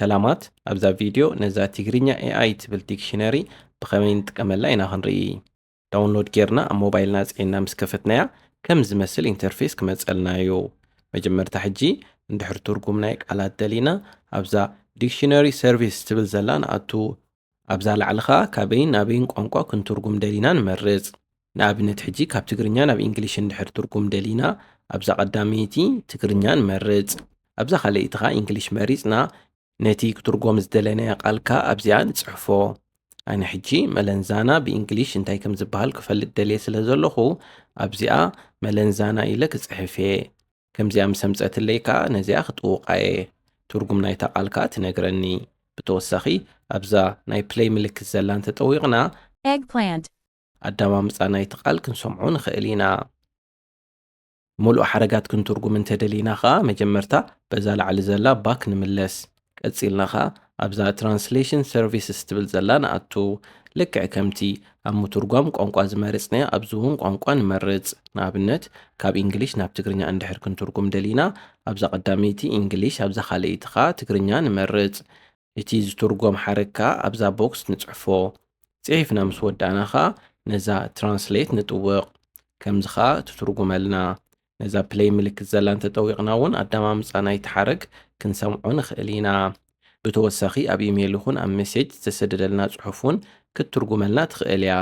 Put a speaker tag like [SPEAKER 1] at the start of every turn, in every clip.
[SPEAKER 1] ሰላማት ኣብዛ ቪድዮ ነዛ ትግርኛ ኤኣይ ትብል ዲክሽነሪ ብኸመይ ንጥቀመላ ኢና ክንርኢ። ዳውንሎድ ጌርና ኣብ ሞባይልና ኣጽዒንና ምስ ከፈትናያ ከም ዝመስል ኢንተርፌስ ክመጸልና እዩ። መጀመርታ ሕጂ እንድሕር ትርጉም ናይ ቃላት ደሊና ኣብዛ ዲክሽነሪ ሰርቪስ ትብል ዘላ ንኣቱ። ኣብዛ ላዕሊ ከኣ ካበይን ናበይን ቋንቋ ክንትርጉም ደሊና ንመርጽ። ንኣብነት ሕጂ ካብ ትግርኛ ናብ ኢንግሊሽ እንድሕር ትርጉም ደሊና ኣብዛ ቀዳመይቲ ትግርኛ ንመርጽ ኣብዛ ካልኣይቲ ከኣ ኢንግሊሽ መሪጽና ነቲ ክትርጎም ዝደለናዮ ቃል ከኣ ኣብዚኣ ንጽሕፎ። ኣነ ሕጂ መለንዛና ብኢንግሊሽ እንታይ ከም ዝበሃል ክፈልጥ ደልየ ስለ ዘለኹ ኣብዚኣ መለንዛና ኢለ ክጽሕፍ እየ። ከምዚኣ ምስ ኣምጸትለይ ከኣ ነዚኣ ክጥውቓ እየ። ትርጉም ናይታ ቃል ከኣ ትነግረኒ። ብተወሳኺ ኣብዛ ናይ ፕለይ ምልክት ዘላ እንተጠዊቕና። Eggplant
[SPEAKER 2] ኣዳማምጻ
[SPEAKER 1] ናይቲ ቓል ክንሰምዖ ንኸእል ኢና። ምሉእ ሓረጋት ክንትርጉም እንተ ደሊና ኸኣ መጀመርታ በዛ ላዕሊ ዘላ ባክ ንምለስ። ቀጺልና ኸኣ ኣብዛ ትራንስሌሽን ሰርቪስስ ትብል ዘላ ንኣቱ። ልክዕ ከምቲ ኣብ ምቱርጓም ቋንቋ ዝመርጽናዮ ኣብዚ እውን ቋንቋ ንመርጽ። ንኣብነት ካብ ኢንግሊሽ ናብ ትግርኛ እንድሕር ክንትርጉም ደሊና ኣብዛ ቀዳመይቲ ኢንግሊሽ ኣብዛ ካልኣይቲ ኸኣ ትግርኛ ንመርጽ። እቲ ዝትርጎም ሓረግ ከኣ ኣብዛ ቦክስ ንጽሕፎ። ጽሒፍና ምስ ወዳእና ከኣ ነዛ Translate ንጥውቕ። ከምዚ ከኣ ትትርጉመልና። ነዛ Play ምልክት ዘላ እንተጠዊቕና እውን ኣደማምጻ ናይቲ ሓረግ ክንሰምዖ ንኽእል ኢና። ብተወሳኺ ኣብ ኢሜል ይኹን ኣብ ሜሴጅ ዝተሰደደልና ጽሑፍ እውን ክትትርጉመልና ትኽእል እያ።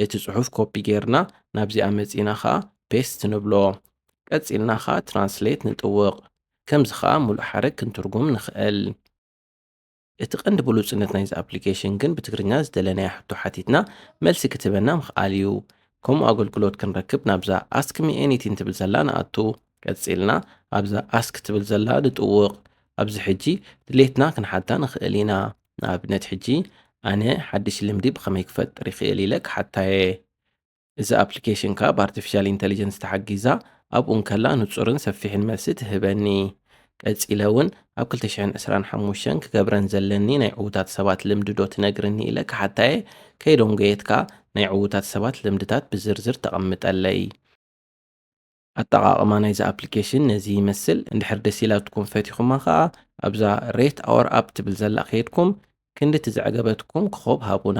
[SPEAKER 1] እቲ ጽሑፍ ኮፒ ጌርና ናብዚ ኣመጺና ከኣ ፔስት ንብሎ ቀጺልና ከኣ ትራንስሌት ንጥውቕ ከምዚ ከኣ ምሉእ ሓረግ ክንትርጉም ንኽእል። እቲ ቀንዲ ብሉጽነት ናይዚ ኣፕሊኬሽን ግን ብትግርኛ ዝደለናዮ ሕቶ ሓቲትና መልሲ ክትህበና ምኽኣል እዩ። ከምኡ ኣገልግሎት ክንረክብ ናብዛ Ask me anything ትብል ዘላ ንኣቱ። ቀጺልና ኣብዛ Ask ትብል ዘላ ንጥውቕ ኣብዚ ሕጂ ድሌትና ክንሓታ ንኽእል ኢና። ንኣብነት ሕጂ ኣነ ሓድሽ ልምዲ ብኸመይ ክፈጥር ይኽእል ኢለ ክሓታየ እዚ ኣፕሊኬሽን ከኣ ብኣርቲፊሻል ኢንተሊጀንስ ተሓጊዛ ኣብኡ እንከላ ንጹርን ሰፊሕን መልሲ ትህበኒ ቀጺለ እውን ኣብ 225 ክገብረን ዘለኒ ናይ ዕዉታት ሰባት ልምዲ ዶ ትነግርኒ ኢለ ክሓታየ ከይዶንጎየትካ ናይ ዕዉታት ሰባት ልምድታት ብዝርዝር ተቐምጠለይ ኣጠቓቕማ ናይዛ ኣፕሊኬሽን ነዚ ይመስል። እንድሕር ደስ ኢላትኩም ፈቲኹማ ከኣ ኣብዛ Rate Our App ትብል ዘላ ከይድኩም ክንድቲ ዘዕገበትኩም ክኾብ ሃቡና።